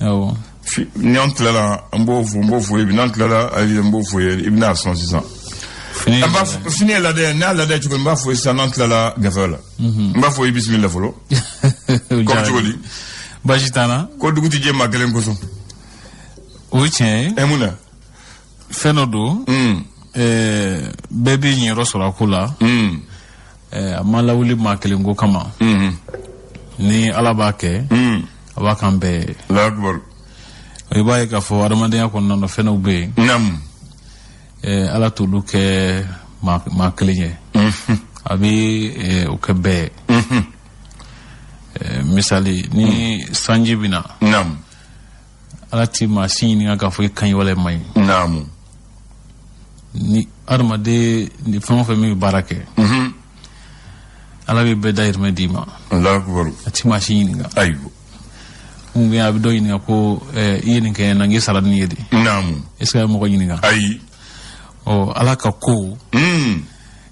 awɔ ni an tilala an b'o fɔ n b'o fɔ i ye bi n'an tilala ayi n b'o fɔ i ye i bɛna a sɔn sisan fini an b'a fɔ fini ye ladɛ n'a ladɛ cogo min n b'a fɔ i ye sisan n'an tilala gafe la n b'a fɔ i ye bisimila fɔlɔ kɔmi cogo di baasi t'an na ko dugu tɛ jɛ maa kelen kosɔn o ye tiɲɛ ye ɛ mun na fɛn dɔ don mm. eh, bɛɛ b'i ɲɛyɔrɔ sɔrɔ a ko la mm. eh, a ma lawuli maa kelen ko kama mm-hmm. ni ala b'a kɛ mm. a b'a k'an bɛɛ ye i b'a ye k'a fɔ adamadenya kɔnɔna na fɛn dɔw bɛ yen eh, ala t'olu kɛ maa kelen ye mm-hmm. a bɛ o kɛ bɛɛ ye mm-hmm. misali ni sanji bɛ na ala ti maa si ɲininka k'a fɔ i ka ɲi wala i man ɲi naamu ni adamaden ni fɛn o fɛn min bɛ baara kɛ mhm. ala bɛ bɛɛ dayirimɛ d'i ma a ti maa si ɲininka ayiwa mun bɛ a bɛ dɔ ɲininka ko eh, i ye nin kɛ na n k'i sara ni ye de naamu est ce que a ye mɔgɔ ɲininka ayi ɔ ala ka ko mm.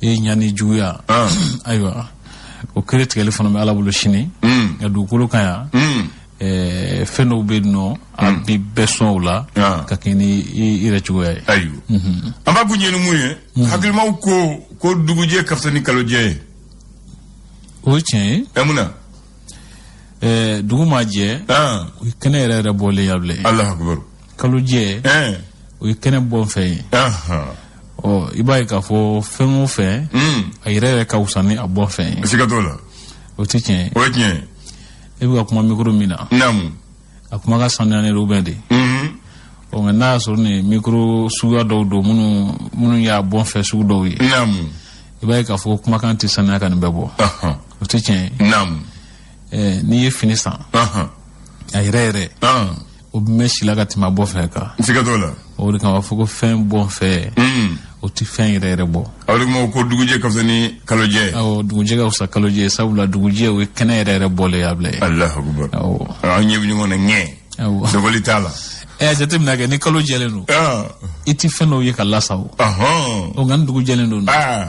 i ɲa n'i juguya ah. ayiwa o kiri tigɛli fana bɛ ala bolo sini hmm. nka dugukolo kan yan hmm. eh, fɛn dɔw bɛ yen nɔ a hmm. bɛ bɛɛ sɔn o la ah. ka kɛ ni i yɛrɛ cogoya ye ayiwa mhm. an b'a kun ɲɛ ni mun ye mhm. hakilimaw ko ko dugujɛ ka fisa ni kalojɛ ye o ye tiɲɛ ye ɛ mun na eh, dugu ma jɛ ah. o ye kɛnɛ yɛrɛ yɛrɛ bɔlen ye abilayi alahu akibaru kalojɛ ɛn o ye kɛnɛ bɔ fɛn ye ahan ɔ i b'a ye k'a fɔ fɛn o fɛn Mm. a yɛrɛ yɛrɛ ka wusa ni a bɔ fɛn ye siga t'o la o tɛ tiɲɛ ye o ye tiɲɛ ye e bɛ ka kuma mikoro min na naamu a kumakan sanuyanen don bɛɛ de Mhm. ɔ nka n'a y'a sɔrɔ nin ye mikoro suguya dɔw don minnu minnu y'a bɔ fɛn sugu dɔw ye naamu i b'a ye k'a fɔ kumakan tɛ sanuya ka nin bɛɛ bɔ ahan o tɛ tiɲɛ ye naamu ɛɛ n'i ye fini san Ahan. a yɛrɛ yɛrɛ Ahan. o bɛ mɛn si la ka tɛmɛ a bɔ fɛn kan N siga t'o la. o de kama a bɛ fɔ ko fɛn bɔ fɛn Mm. o tɛ fɛn yɛrɛ yɛrɛ bɔ O de kama ko dugujɛ ka fisa ni kalojɛ ye. awɔ dugujɛ ka fisa kalojɛ ye sabula dugujɛ o ye kɛnɛ yɛrɛ yɛrɛ bɔlen ye abilayi Alahu akubar. awɔ An ɲɛ bɛ ɲɔgɔn na ŋɛ. awɔ Dogoli t'a la. ɛ a jateminɛ kɛ ni kalo jɛlen don Ah. i tɛ fɛn dɔw ye ka lasa o Ahan. o nka ni dugu jɛlen don Ah.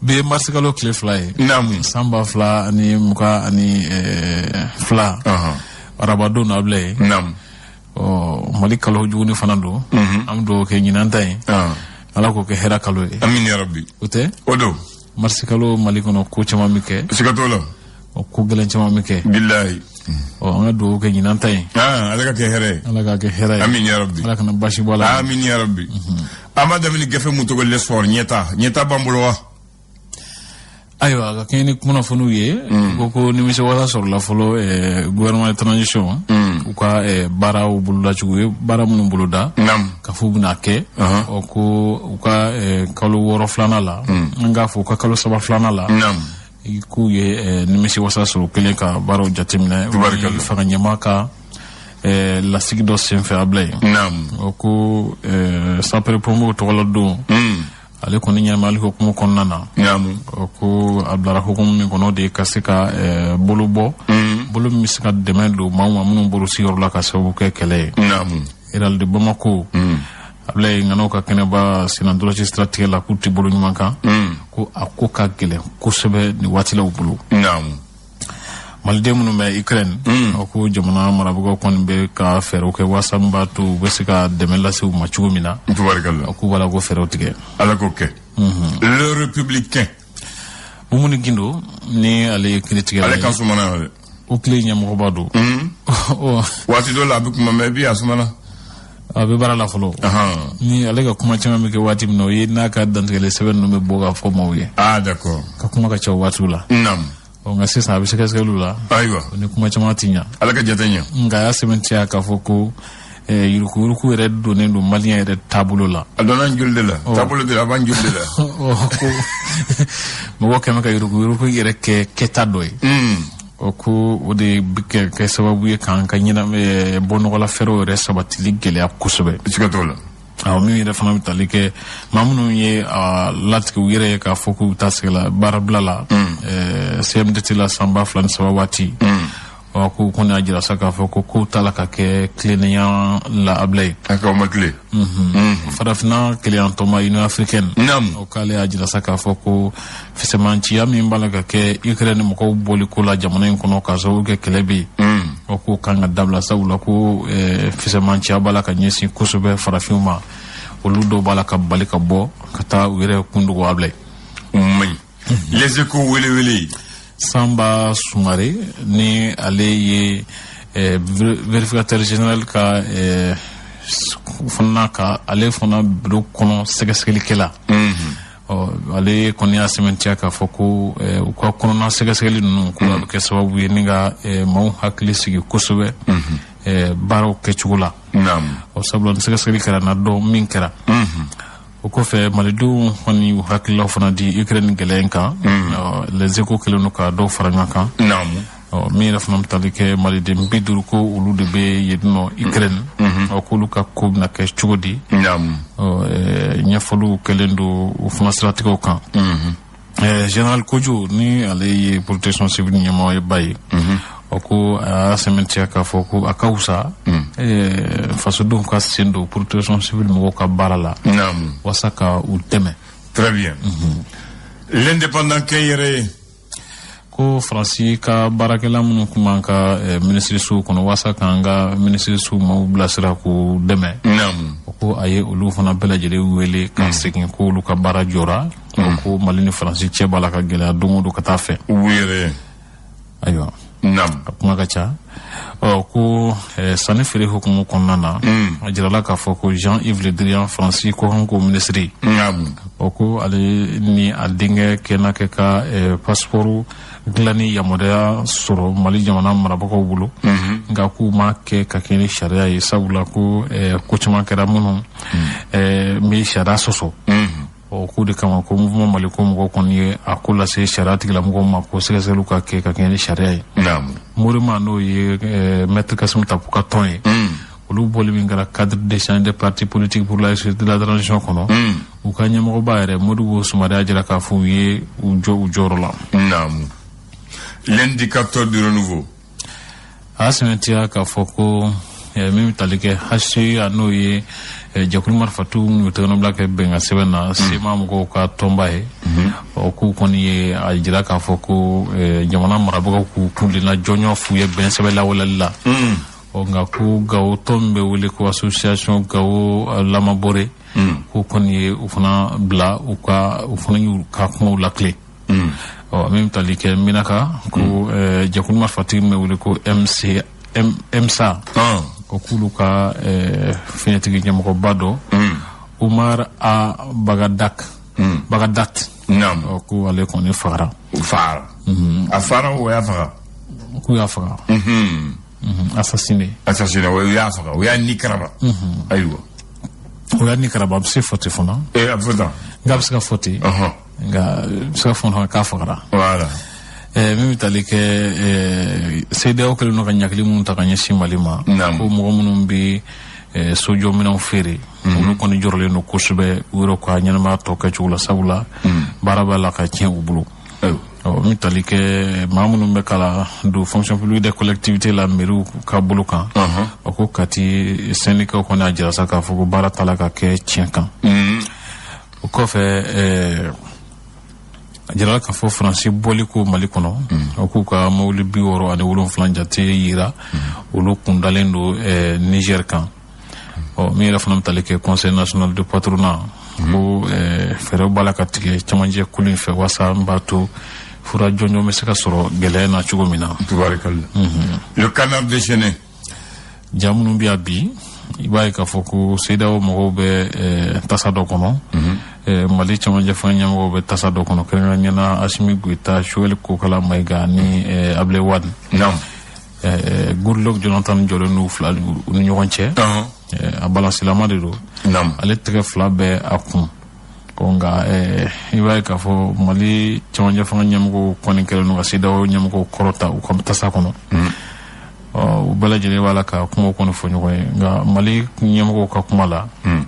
bi ye marisikalo tile fila ye naamu san ba fila ani mugan ani eh, fila arabadon abilayi naamu ɔ mali kalo juguni fana don mhm. an bɛ dugawu kɛ ɲinan ta ye ala k'o kɛ hɛrɛ kalo ye amin yarabi o tɛ o don marisikalo mali kɔnɔ ko caman bɛ kɛ siga t'o la ɔ ko gɛlɛn caman bɛ kɛ abilayi ɔ an ka dugawu kɛ ɲinan ta ye ah, ala k'a kɛ hɛrɛ ye ala k'a kɛ hɛrɛ ye amin yarabi ala kana basi bɔ a la amin yarabi an b'a daminɛ gafe min tɔgɔ l'essor ɲɛta ɲɛta b'an bolo wa ayiwa a ka kɛɲɛ ni kunnafoniw ye Mm. ko ko nimisi wasa sɔrɔla fɔlɔ eh, gouvernement transition Mm. u ka eh, baaraw bolodacogo u ye baara minnu boloda nam k'a fɔ u bɛna kɛ Ɔhɔn. ɔ ko u ka eh, kalo wɔɔrɔ filanan la an k'a fɔ u ka kalo saba filanan la nam i k'u ye eh, nimisi wasa sɔrɔ kɛlen ka baaraw jateminɛ fanga ɲɛmaa ka eh, lasigi dɔ senfɛ abilayi o ko eh, sapeur pompier tɔgɔla don hmm. ale kɔni ɲɛnamayali hukumu kɔnɔna na o ko a bilara hukumu min kɔnɔ de ka se ka bolo bɔ hmm. bolo min bɛ se ka dɛmɛ don maaw ma minnu bɔra u sigiyɔrɔ la ka sababu kɛ kɛlɛ ye réal de bamako hmm. abulayi ŋanaw ka kɛnɛba sennantolaci siratigɛ la k'u tɛ bolo ɲuman kan hmm. ko a ko ka gɛlɛn kosɛbɛ nin waati la u bolo maliden minnu bɛ ukraine hmm. a ko jamana marabagaw kɔni bɛ ka fɛɛrɛw kɛ waasa min b'a to u bɛ se ka dɛmɛ lase u ma cogo min na a k'u b'a la k'o fɛɛrɛw tigɛ ala k'o kɛ hmm. le républicain mumuni gindo ni ale ye kiritigɛ ale ka sumana oclei ɲɛmɔgɔba don waati dɔ la a bɛ kuma mais bi a sumana a bɛ baara la fɔlɔ ni ale ka kuma caman bɛ kɛ waati min na o ye n'a ka dantigɛli sɛbɛn ninnu bɛ bɔ k'a fɔ maaw ye ah, d'accord a ka kuma ka ca waatiw la nka sisan a bɛ sɛgɛsɛgɛliw la ayiwa ni kuma caman tɛ ɲa ala ka jate ɲa nka a y'a sɛmɛntiya k'a fɔ ko eh, yurukuyuruku yɛrɛ donnen don maliyɛn yɛrɛ taabolo la a donna an joli de la oh. taabolo de la a b'an joli de la oh, ko mɔgɔ kɛmɛ ka yurukuyuruku yɛrɛ kɛ kɛta dɔ ye hmm. o oh, ko o de bɛ ka kɛ sababu ye k'an ka ɲɛna eh, bɔnɔgɔla fɛɛrɛw yɛrɛ sabatili gɛlɛya kosɛbɛ siga t'o la awɔ min yɛrɛ fana bɛ tali kɛ maa minnu y'a latigɛ u yɛrɛ ye k'a fɔ k'u bɛ taa u sago la baarabila la hmm. eh, cmdt la san ba fila ni saba waati hmm. ɔ k'u kɔni y'a jira sa k'a fɔ ko kow t'a la ka kɛ tilennenya la abilayi a k'a ma tilen farafina kelenyatɔnba union africaine Naamu. o k'ale y'a jira sa k'a fɔ ko fisɛmanciya min b'a la ka kɛ ukraine mɔgɔw bɔli ko la jamana in kɔnɔ k'a sababu kɛ kɛlɛ bɛ yen o k'o kan ka dabila sabula ko eh, fisɛmanciya b'a la ka ɲɛsin kosɛbɛ farafinw ma olu dɔw b'a la ka bali ka bɔ ka taa u yɛrɛ kundogo abilayi o man ɲi les echos welewele sanba sumare ni ale ye eh, verificateur general ka eh, fana ka ale fana biro kɔnɔ sɛgɛsɛgɛlikɛla mhm. ale kɔni y'a sɛmɛntiya k'a fɔ ko eh, u ka kɔnɔna sɛgɛsɛgɛli ninnu ko a bɛ kɛ sababu ye ni ka eh, maaw hakili sigi kosɛbɛ mhm. eh, baaraw kɛcogo la sabula ni sɛgɛsɛgɛli kɛra a na dɔn min kɛra mhm. o kɔfɛ malidenw kɔni u hakililaw fana di ukraine gɛlɛya kan mm. les échos kɛlen don ka dɔw fara ɲɔgɔn kan min yɛrɛ fana bɛ tali kɛ maliden bi duuru ko olu de bɛ yen nɔ ukraine mm-hmm. mm-hmm. k'olu ka ko bɛna kɛ cogo di ɲɛfɔliw kɛlen don o fana siratigɛw kan mm-hmm. Eh, général Kodio ni ale ye protection civile ɲɛmɔgɔ ye ba ye mhm. o ko a y'a sɛmɛntiya k'a fɔ ko a ka wusa mhm. eh, fasodenw ka sen don protection civile mɔgɔw ka baara la walasa ka u dɛmɛ très bien mhm. l'indépendant kɛ yɛrɛ ye ko faransi ka baarakɛla minnu tun b'an ka eh, minisirisow kɔnɔ waasa k'an ka minisirisow maaw bilasira k'u dɛmɛ ko a ye olu fana bɛɛ lajɛlen wele ka hmm. segin ko olu ka baara jɔra hmm. ko mali ni faransi cɛ b'a la ka gɛlɛya don o don ka taa fɛ ayiwa a kuma ka ca ɔ ko eh, sanni feere hukumu kɔnɔna na mm. a jirala k'a fɔ ko jean yves le drian faransi kɔkanko minisiri o ko ale ni a denkɛ kɛna kɛ ka eh, pasipɔri dilanni yamaruya sɔrɔ mali jamana marabagaw bolo mm-hmm. nka k'o ma kɛ ka kɛɲɛ ni sariya ye sabula ko eh, ko caman kɛra minnu mm. bɛ sariya sɔsɔ mm-hmm. ɔ k'o de kama ko mouvement maliko mɔgɔw kɔni ye a ko lase sariya tigilamɔgɔw ma ko sɛgɛsɛgɛliw ka kɛ ka kɛɲɛ ni sariya ye morema n'o ye eh, maître kassoum tapo ka tɔn ye mm. olu bɔli min kɛra cadre d'échange des partis politiques pour la réussite de la transition kɔnɔ mm. u ka ɲɛmɔgɔba yɛrɛ modibo soumaré y'a jira k'a fɔ u ye u jɔ u jɔyɔrɔ la l'indicateur du renouveau a sɛmɛntiya k'a fɔ ko eh, min bɛ tali kɛ hca n'o ye eh, jɛkulu marifatigi minnu ye tɛgɛnɔbila kɛ bɛnkan sɛbɛn na mm. cma mɔgɔw ka tɔnba ye mm-hmm. ɔ k'u kɔni ye a jira k'a fɔ ko eh, jamana marabagaw k'u kuntilenna jɔnjɔn f'u ye bɛn sɛbɛn lawaleyali la mm. ɔ nka ko gawo tɔn min bɛ wele ko association gao lama borey mm. k'u kɔni ye u fana bila u ka u fana y'u ka kumaw latilen mm. ɔ min bɛ tali kɛ menaka ko mm. eh, jɛkulu marifatigi min bɛ wele ko m msa ah. ko k'olu ka eh, finitigi ɲɛmɔgɔba dɔ mm. umar ag bagadat mm. bagadat naam ɔ ko ale kɔni fagara fagara mm-hmm. a fagara u y'a faga k'u y'a faga mm-hmm. mm-hmm. assassiné assassiné u y'a faga u y'a ni karaba ayiwa u y'a ni karaba a bɛ se ka fɔ ten fana eh, a bɛ fɔ tan nka a bɛ se ka fɔ ten nka bɛ se ka fɔ k'a fagara voilà eh, min bɛ tali kɛ eh, CEDEAO kɛlen don ka ɲangili minnu ta ka ɲɛsin Mali ma ko mɔgɔ minnu bɛ eh, sojɔminɛnw feere mhm. olu kɔni jɔrɔlen don kosɛbɛ u yɛrɛ ka ɲɛnamaya tɔ kɛcogo la sabula mhm. baara b'a la ka tiɲɛ u bolo ɔ min tali kɛ maa minnu bɛ ka ladon fonction publique des collectivités la mairie ka bolo kan ɔ ko kati syndicat kɔni y'a jira sa k'a fɔ ko baara t'a la ka kɛ tiɲɛ kan o kɔfɛ ɛɛ a jirala k'a fɔ faransi bɔli ko mali kɔnɔ a k'u ka mobili bi wɔɔrɔ ani wolonfila jate yira olu kun dalen don ɛɛ niger kan ɔ min yɛrɛ fana bɛ tali kɛ conseil national de patronat ko ɛɛ fɛɛrɛw b'a la ka tigɛ cɛmancɛ kulu in fɛ walasa n b'a to fura jɔnjɔn bɛ se ka sɔrɔ gɛlɛya na cogo min na Tabarikala. Le canard déchaîné. ja minnu bɛ yan bi i b'a ye k'a fɔ ko CEDEAO mɔgɔw bɛ eh, tasa dɔ kɔnɔ mhm. eh, mali cɛmancɛfanga ɲɛmɔgɔw bɛ tasa dɔ kɔnɔ kɛrɛnkɛrɛnnenya la asimi goyita sogɛli kokala mayiga ni eh, abile wad goodluck jonathan jɔlen don u fila u ni ɲɔgɔn cɛ a balansilama de don ale tɛgɛ fila bɛ a kun ko nka i b'a ye k'a fɔ mali cɛmancɛfanga ɲɛmɔgɔw kɔni kɛlen don ka CEDEAO ɲɛmɔgɔw kɔrɔta u ka tasa kɔnɔ mhm. u bɛɛ lajɛlen b'a la ka kuma kɔni fɔ ɲɔgɔn ye nka mali ɲɛmɔgɔw ka kuma la hmm.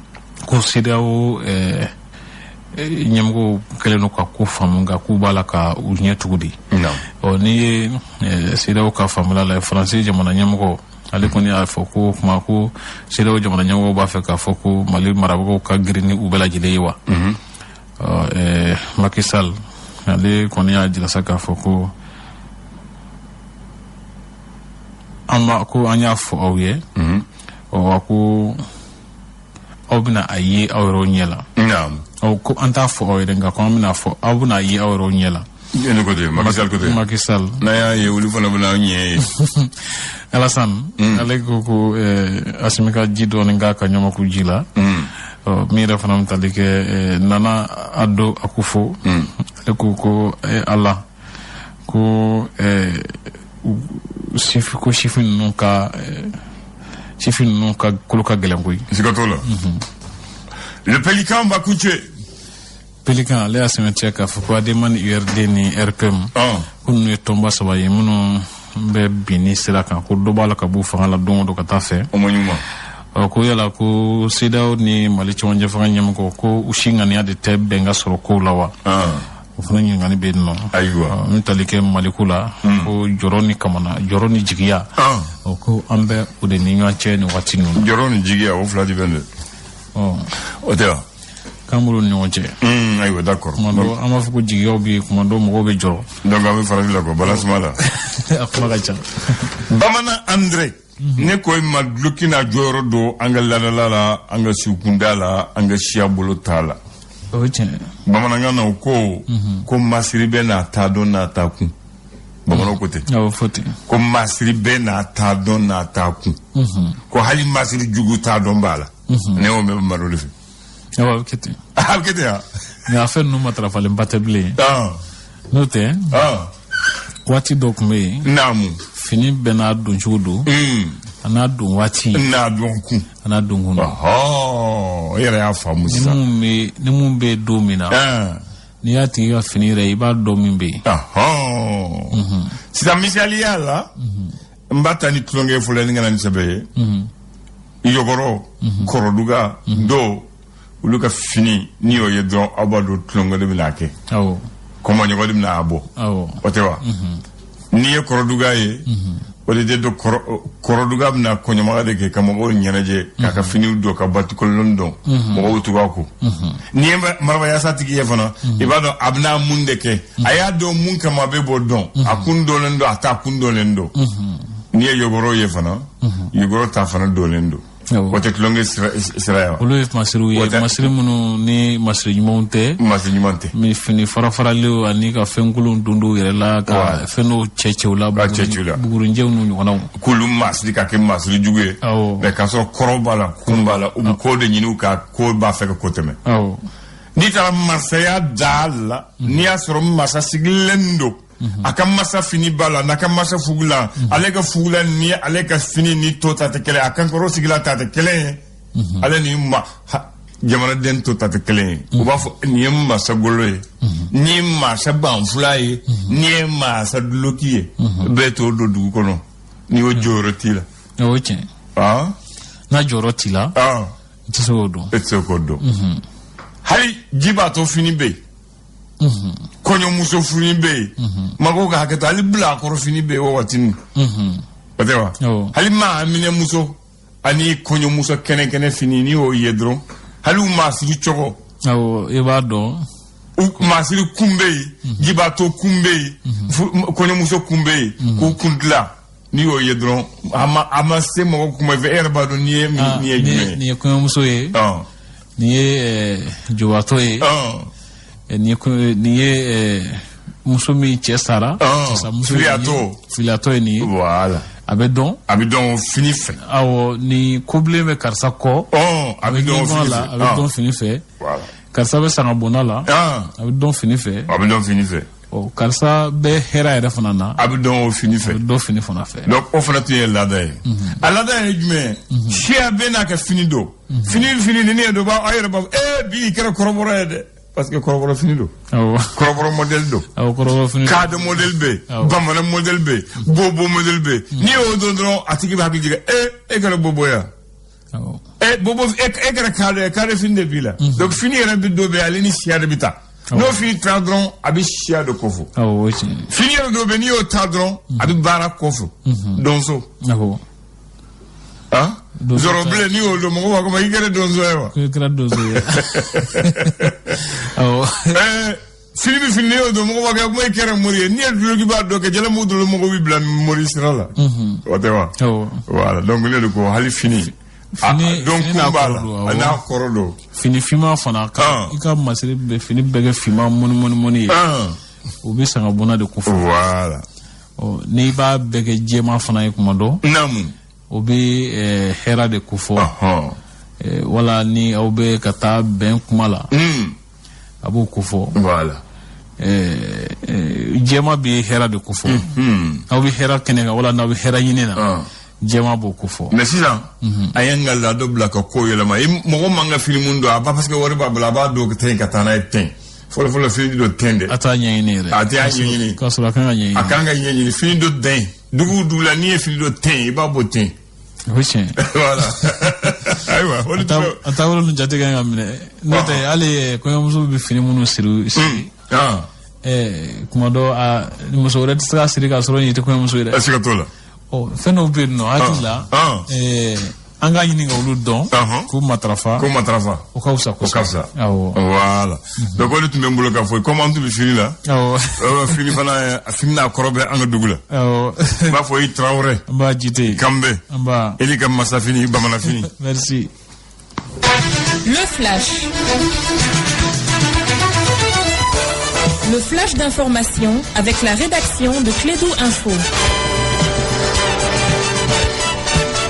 ko sedeyawo eh, eh, ɲɛmɔgɔw kɛlen don ka ko faamu nka k'u b'a la ka u ɲɛ tugu de ɔ n'i ye eh, sedeyawo ka faamuli la faransi jamana ɲɛmɔgɔ ale kɔni y'a fɔ ko kuma ko sedeyawo jamana ɲɛmɔgɔw b'a fɛ k'a fɔ ko mali marabagaw ka girin ni u bɛɛ lajɛlen ye wa hmm. maki sal ale kɔni y'a jira sa k'a fɔ ko an b'a ko an y'a fɔ aw ye mhm. wa ko aw bɛna a ye aw yɛrɛw ɲɛ la ko an t'a fɔ aw ye dɛ nka ko an bɛna fɔ aw bɛna a ye aw yɛrɛw ɲɛ la ne ko ten Macky Sall ko ten Macky Sall n'a y'a ye olu fana bɛna an ɲɛ ye Alassane mm. ale ko ko eh, Asimi ka ji dɔɔni k'a ka ɲamakuji la mm. min yɛrɛ fana bɛ tali kɛ eh, Nana Addo Akufo mm. ale ko ko eh, Ala ko ɛɛ u sifi ko sifin ninnu ka ɛɛ sifin ninnu ka kolo ka gɛlɛn koyi. siga t'o la. le pelikan b'a kun cɛ. pelikan ale y'a sɛbɛn cɛ k'a fɔ ko adema ni urd ni rpm. Ah. ko ninnu ye tɔnba saba ye minnu bɛ binni sira kan ko dɔ b'a la ka b'u fanga la don o don ka taa fɛ. o ma ɲuman. ɔ ko yala ko sedeyawo ni mali cɛmancɛ fanga ɲɛmɔgɔ ko u si ŋaniya de tɛ bɛnkan sɔrɔ kow la wa. Ah. o fana ɲininkali bɛ yen nɔ ayiwa n tali kɛ maliku la hmm. ko jɔrɔ ni kamana jɔrɔ ni jigiya ah. o ko an bɛ o de ni ɲɔgɔn cɛ nin waati ninnu jɔrɔ ni jigiya o fila de bɛ nin o tɛ wa k'an bolo ni ɲɔgɔn cɛ hmm, ayiwa d'accord kuma dɔ an b'a fɔ ko jigiyaw bɛ yen kuma dɔ mɔgɔw bɛ jɔrɔ donc an bɛ farafin la quoi balasuma la a kuma ka ca bamanan andre Mhm. ne ko i ma duloki nin jɔyɔrɔ dɔn an ka laada la an ka siwukunda la an ka siya boloda la bamanankan na u ko mhm. ko masiri bɛɛ n'a ta don n'a ta kun bamananw ko ten ko masiri bɛɛ n'a ta don n'a ta kun mhm. ko hali masiri jugu ta don b'a la ne y'o mɛn malo de fɛ E b'a fɔ kɛ ten a bɛ kɛ ten wa nka fɛn ninnu matarafalenba tɛ bilen ɔn n'o tɛ ɔn waati dɔ tun bɛ yen naamu fini bɛɛ n'a don cogo don Mm. an'a don waati n'a don kun an'a don kun don ɔhɔn e yɛrɛ y'a faamu ni sisan mun bɛ ni mun bɛ yen don min na ɛn n'i y'a tigi ka fini ye i b'a dɔn min bɛ yen ɔhɔn sisan misaliya la n b'a ta ni tulonkɛ fɔlɔ ni n ka na ni sɛbɛ ye mhm. yɔgɔrɔ mhm. kɔrɔduga mhm. donc olu ka fini n'i y'o ye dɔrɔn aw b'a dɔn tulonkɛ de bɛna a kɛ kɔmɔɲɔgɔn de bɛna a bɔ o tɛ wa n'i ye kɔrɔduga ye o de don kɔrɔduga bɛna kɔɲɔmaga de kɛ ka mɔgɔw ɲɛnajɛ k'a ka finiw don ka batikolon don mɔgɔw tugu a kɔ n'i ye marabayasatigi ye fana mhm. i b'a dɔn a bɛna mun de kɛ a y'a don mun kama bɛɛ b'o dɔn mhm. a kun dɔnlen don a ta kun dɔnlen don mhm. n'i ye yogoro ye fana yogoro ta fana dɔnlen don o tɛ tulonkɛ sira ye wa olu ye masiriw ye masiri minnu ni masiri ɲumanw tɛ masiri ɲuman tɛ mɛ fini farafaralen ani ka fɛnkolonw don dɔw yɛrɛ la ka fɛn dɔw cɛ cɛw la bugurinjɛw n'u ɲɔgɔnnaw k'olu masiri ka kɛ masiri jugu ye mɛ k'a sɔrɔ kɔrɔ b'a la kun b'a la u bɛ ko de ɲini u ka ko b'a fɛ ka ko tɛmɛ n'i taara masaya da la mhm. n'i y'a sɔrɔ masa sigilen don mhm. a ka masa fini b'a la n'a ka masa fugulan mhm. ale ka fugulan ni ale ka fini ni tɔ ta tɛ kelen a kankɔrɔsigila ta tɛ kelen ye ale ni ma jamanaden tɔ ta tɛ kelen ye u b'a fɔ nin ye masa golo ye nin ye masa banfula ye nin ye masa duloki ye bɛɛ t'o don dugu kɔnɔ n'i y'o jɔyɔrɔ t'i la o ye tiɲɛ n'a jɔyɔrɔ t'i la i tɛ se k'o don e tɛ se k'o don mhm. hali jibatɔ fini bɛ yen mhm. kɔɲɔmuso fini bɛ yen mhm. mɔgɔw ka hakɛ to hali bilakoro fini bɛ yen o waati nin o tɛ wa hali maaminɛmuso ani kɔɲɔmuso kɛnɛkɛnɛ fini n'i y'o ye dɔrɔn hali u masiri cogo awɔ i b'a dɔn masiri kun bɛ yen jibatɔ kun bɛ yen kɔɲɔmuso kun bɛ yen k'u kun dilan n'i y'o ye dɔrɔn a ma a ma se mɔgɔ kuma fɛ e yɛrɛ b'a dɔn nin ye ah, nin ye jumɛn ye. nin ye kɔɲɔmuso ye. nin ye eh, jubatɔ ye. Eh, nin ye nin ye eh, muso min cɛ sara. muso filiyatɔ filiyatɔ ye nin ye. wala. a bɛ dɔn. a bɛ dɔn fini fɛ. awɔ ni kobilen bɛ karisa kɔ. a bɛ dɔn fini fɛ a bɛ dɔn fini fɛ. karisa bɛ sangabonda la. a bɛ dɔn fini fɛ. a bɛ dɔn fini fɛ. ɔ karisa bɛ hɛra yɛrɛ fana na a bɛ dɔn o fini fɛ dɔ fini fana fɛ donc o fana tun ye laada ye a laada ye jumɛn ye mhm. siya bɛɛ n'a ka fini don mhm. fini fini ni ne ye dɔ b'a aw yɛrɛ b'a fɔ ee bi i kɛra kɔrɔbɔrɔ ye dɛ parce que kɔrɔbɔrɔ fini don kɔrɔbɔrɔ mɔdɛli don kaadɔ mɔdɛli bɛ yen bamanan mɔdɛli bɛ yen bobo mɔdɛli bɛ yen n'i y'o don dɔrɔn a tigi bɛ hakili jigin ee e kɛra bobo ye wa e bobo e kɛra kare ye kare fini de b'i la mhm. donc fini yɛrɛ bɛ dɔ bɛ ale ni siya de bɛ taa n'o fini ta dɔrɔn a bɛ siya de kofɔ fini yɛrɛ dɔ bɛ n'i y'o ta dɔrɔn mhm. a bɛ baara kofɔ mhm. donso ah? zɔrɔ bilen n'i y'o don mɔgɔ b'a fɔ i kɛra donso ye wa i kɛra donso ye awɔ fini bɛ fini n'i y'o don mɔgɔ b'a kɛ comme i kɛra mori ye n'i ye dulokiba don ka jalamugu dulon mɔgɔ b'i bila mori sira la o tɛ wa wala donc ne de ko hali fini don kun b'a la a n'a kɔrɔ don fini finma fana ka i ka masiri bɛɛ fini bɛɛ kɛ finma mɔni mɔni mɔni ye o bɛ sangabonda de kofɔ wala n'i b'a bɛɛ kɛ jɛma fana ye kuma don naamu o bɛ eh, hɛra de kofɔ Ɔhɔn. Eh, wala ni aw bɛ ka taa bɛn kuma la Mm. a b'o kofɔ Voilà. Eh, eh, jɛma bɛ hɛra de kofɔ Mm. aw bɛ hɛra kɛnɛ kan wala n'aw bɛ hɛra ɲini na Ah. jɛma b'o kofɔ mais sisan an y'an ka laada bila ka ko yɛlɛma i mɔgɔ man kan ka fini min don a b'a parce que wari b'a bolo a b'a don ka tɛmɛ ka taa n'a ye ten fɔlɔfɔlɔ fini don ten dɛ a t'a ɲɛɲini yɛrɛ A t'a ɲɛɲini. k'a sɔrɔ a kan ka ɲɛɲini a kan ka ɲɛɲini fini don ten dugu dugu la n'i ye fini don ten i b'a bɔ ten o ye tiɲɛ voilà ayiwa o de tun bɛ a taabolo ninnu jate ka ɲi ka minɛ n'o tɛ hali eh, kɔɲɔmuso bɛ fini minnu siri siri ah, eh, kuma don a muso wɛrɛ tɛ se k'a siri k'a sɔrɔ nin tɛ kɔɲɔmuso ye dɛ a siga t'o la ɔ fɛn dɔw bɛ yen ne hakili la Ah, ah. eh, an ka ɲini ka olu dɔn k'u matarafa k'u matarafa o ka fisa kosɛbɛ o ka fisa awɔ wala donc o de tun bɛ n bolo k'a fɔ comme an tun bɛ fini la awɔ euh, fini fana a fini n'a kɔrɔ bɛ an ka dugu la awɔ n b'aw fo i Tarawele nba Jite k'an bɛn nba e ne ka masafini bamananfini merci le flash le flash d'information avec la rédaction de Klédu Info.